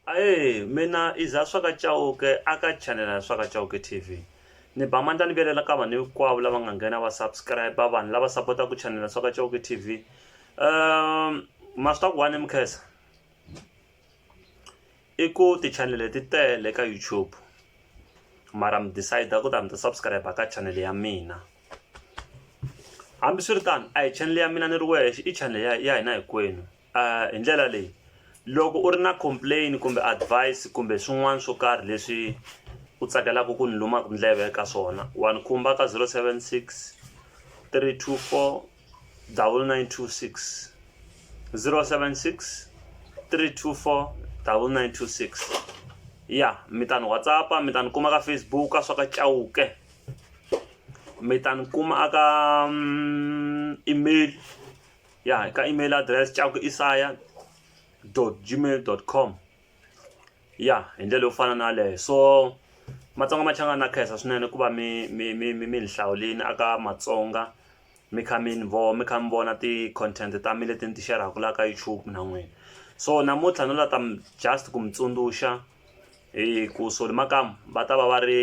Ae mina iza swaka Chauke aka channel ya swaka Chauke TV ni ba mandla ni velela ka vanhu hinkwavo lava nga nghena va subscribe vanhu lava sapota ku channel ya swaka Chauke TV um ma swi ta ku wani mukhesa i ku ti channel leti tele ka YouTube mara mi decide ku ta mi ta subscribe ka channel ya mina hambiswiritano a hi channel ya mina ni ri wexe i channel ya ya hina hinkwenu uh, hi ndlela leyi loko u ri na complain kumbe advice kumbe swin'wana swo karhi leswi u tsakelaka ku ni lumaka ndleve ka swona wa ni khumba ka 076 324 9926 076 324 9926 ya mi ta ni whatsappa mi ta ni kuma ka facebook ka swa ka chauke mi ta ni kuma aka mm, email ya ka email address caku isaya gmail com ya hi ndlela yo fana na leyo so matsonga ma changana na khensa swinene ku va mi mi mi mi mi ni hlawulini aka matsonga mi kha mi ni vo mi kha mi vona ti-content ta mi leti ni ti xerhaka laha ka youtube na n'wina so namuntlha no la ta just ku mi tsundzuxa hi ku soli makamu va ta va va ri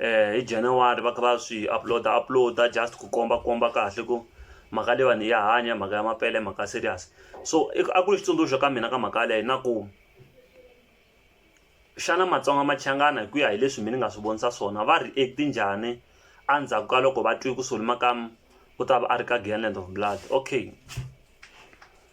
hi January va kha va swi upload upload just ku komba komba kahle ku mhaka leyiwani ya hanya mhaka ya mapele mhaka serious so a ku ri xitsundzuxo ka mina ka mhaka leyi na ku xana matsonga machangana hi ku ya hi leswi mina ni nga swi vonisa swona va react njhani endzhaku ka loko va twe ku solomakamu u ta va a ri ka giyani land of blood okay.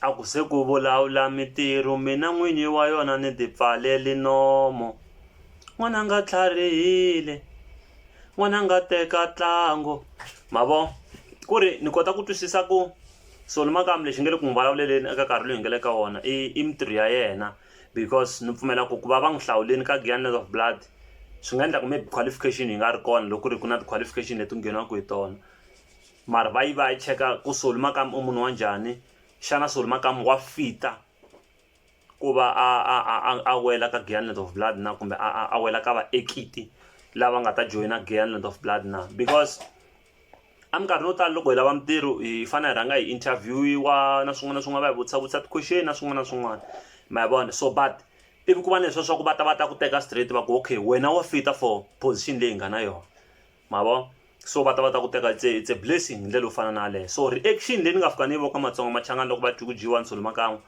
A ku se ku vulavula mitiru, mina n'winyi wa yona ni ti pfaleli nomo. N'wananga tlharihile, n'wananga teka tlango. Ma vo? Ku ri ni kota ku twisisa ku so ni makamu lexi nge le ku n'wi vulavuleleni eka nkarhi loyi hi nge le ka wona i i mitiru ya yena because ni pfumela ku ku va va n'wi hlawuleni ka Giyani of Blood swi nga endla ku maybe qualification yi nga ri kona loko ku ri ku na ti qualification leti ngheniwaka hi tona. Mara va yi va ya yi cheka ku Solly Makamu i munhu wa njhani, xana Solly Makamu wa fit-a ku va a a a a a wela ka Giyani Land of Blood na kumbe a a a wela ka vaekiti lava nga ta joyina Giyani Land of Blood na because eminkarhini yo tala loko hi lava mintirho hi fanele hi rhanga hi interview-iwa na swin'wana na swin'wana va hi vutisa vutisa ti-question na swin'wana na swin'wana ma yi vona so but ivi ku va na leswiya swa ku va ta va ta ku teka straight va ku okay wena wa fit-a for position leyi hi nga na yona. ma vo so va ta va ta ku teka it's a, it's a blessing hi ndlela yo fana na yaleyo so reaction leyi ni nga fika ni yi voka matsonga machangani loko va twi ku dyiwa nsolo makan'we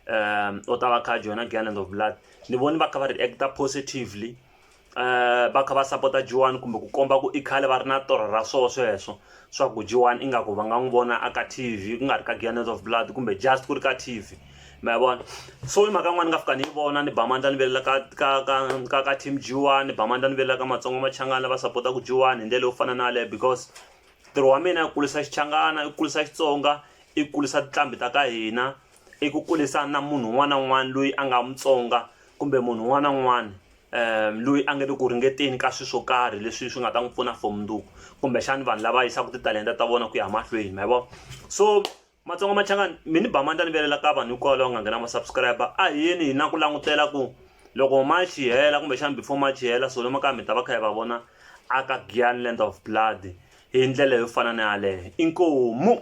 um u ta va kha joyina galland of blood ni voni va kha va reacta positively um va kha va sapota jiwani kumbe ku komba ku i khale va ri na torho ra swo sweswo swa ku jiwani ingaku va nga n'wi vona a ka t v ku nga ri ka galland of blood kumbe just ku ri ka t v ma ya vona so i mhaka yin'wana ni nga fika ni yi vona ni ba mandla ni velela ka ka ka ka ka team jiwani ni ba mandla ni velela ka matsongo machangana lava sapotaka jiwani hi ndlela yo fana na yaleyo because ntirho wa mina i kulisa xichangana i kulisa xitsonga i kulisa tinqambi ta ka hina i ku kulisa na munhu un'wana na un'wana loyi a nga mutsonga kumbe munhu un'wana na un'wana um loyi a nga le ku ringeteni ka swilo swo karhi leswi swi nga ta n'wi pfuna for mundzuku kumbexani vanhu lava yisaka titalenta ta vona ku ya mahlweni ma yi vona so matsonga machangani mi ni ba mandla ni velela ka vanhu hikwalaho va nga nghena ma subscriber a hi yeni hi na ku langutela ku loko march yi hela kumbexana before march yi hela solo makaya mi ta va kha hi va vona aka gianland of blood hi ndlela yo fana na yaleyo inkomu